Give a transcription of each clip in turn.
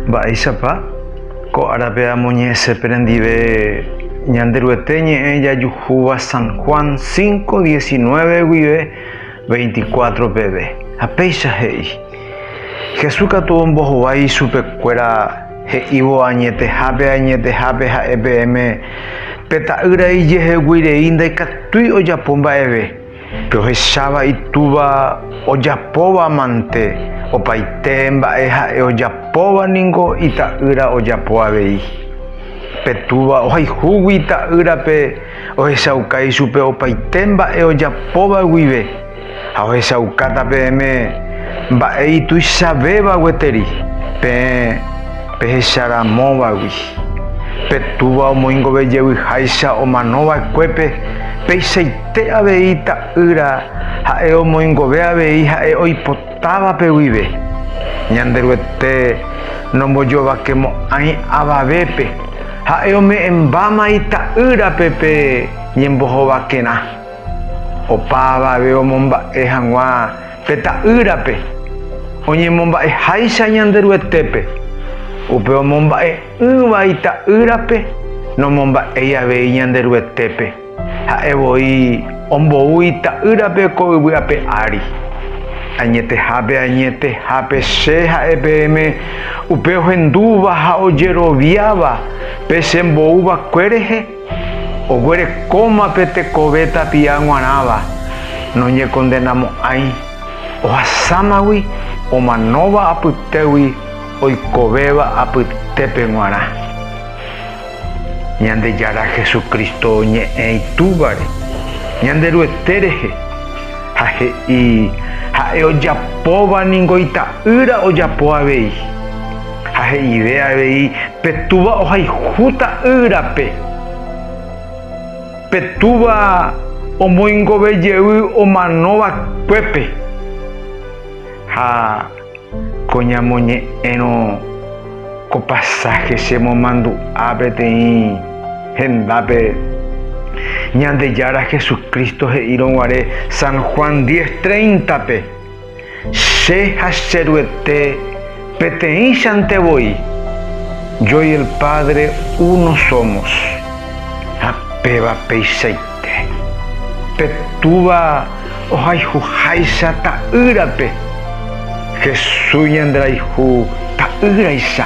Mba'éichapa ko árape amoñe'ẽse perendive Ñanderuete ñe'ẽ jajuhúva San Juan 5, 19 guive 24 peve. Ha péicha he'i, Jesús katu ombohovái ichupekuéra he'ívo añetehápe ha añetehápe ha'e peẽme pe Ta'ýra ijeheguei rei ndaikatúi ojapo mba'eve. Rohecháva itúva ojapóva mante, opaite mba'e ha'e ojapóva ningo ita'ýra ojapo avei. Pe túva ohayhúgui ita'ýrape ohechauka ichupe opaite mba'e ojapóva guive ha ohechaukáta peẽme mba'e ituichavéva gueteri peẽ pehecha ramóvagui. Pe túva omoingove jevyháicha omano vaekuépe, peichaite. Che avei Ta'ýra ha'e omoingove avei ha'e oipotávape guive. Ñanderuete nombojovakemo'ãi avavépe, ha'e ome'ẽmbáma Ita'ýrape pe ñembohovakerã. Opa avave omomba'e hag̃ua pe Ta'ýrape, oñemomba'eháicha Ñanderuetépe. Upe omomba'e'ỹva Ita'ýrape, nomomba'éi avei Ñanderuetépe. Ha'e voi ombou ita'ýrape ko yvy ape ári. Añetehápe añetehápe Che ha'e peẽme upe ohendúva ha ojeroviáva pe Che mbou va'ekue rehe, oguerekóma pe tekove tapia g̃uarãva, noñekondenamo'ãi, ohasámagui omanóva apytégui oikovéva apytépe g̃uarã. Ñandejára Jesucristo oñe'ẽ Itúvare Ñanderuete rehe, ha he'i, Ha'e ojapóva ningo Ita'ýra ojapo avei. Ha he'ive avei, Pe Túva ohayhu Ta'ýrape. Pe Túva omoingove jey omano vakuépe. Ha Ko ñamoñe'ẽrõ ko pasáhe chemomandu'a peteĩ hendápe, Ñandejára Jesucristo he'írõ guare San Juan 10:30-pe, Che ha che Ruete peteĩchante voi, yo y el Padre uno somos. Ha péva peichaite. Pe Túva ohayhuháicha Ta'ýrape, Jesús ñanderayhu Ta'ýraicha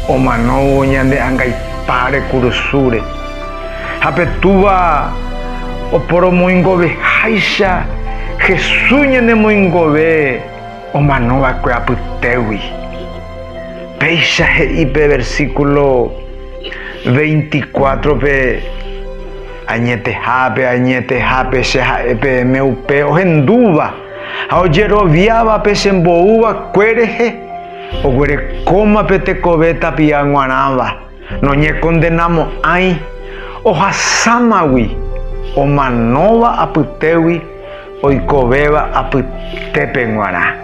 omanóvo ñande angaipa rekurusúre, ha pe Túva oporomoingoveháicha Jesús ñanemoingove omanova'ekue apytégui. Péicha he'i pe versíkulo veinticuátrope. Añetehápe, añetehápe Che ha'e peẽme upe ohendúva ha ojeroviávape che mboúva kue rehe, oguerekóma pe tekove tapia guarãva, noñekondenamo'ãi, ohasámagui, omanóva apytégui, oikovéva apytépe guarã.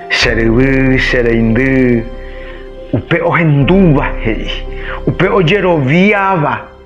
Che ryvy, che reindy, upe ohendúva he'i, upe ojeroviáva.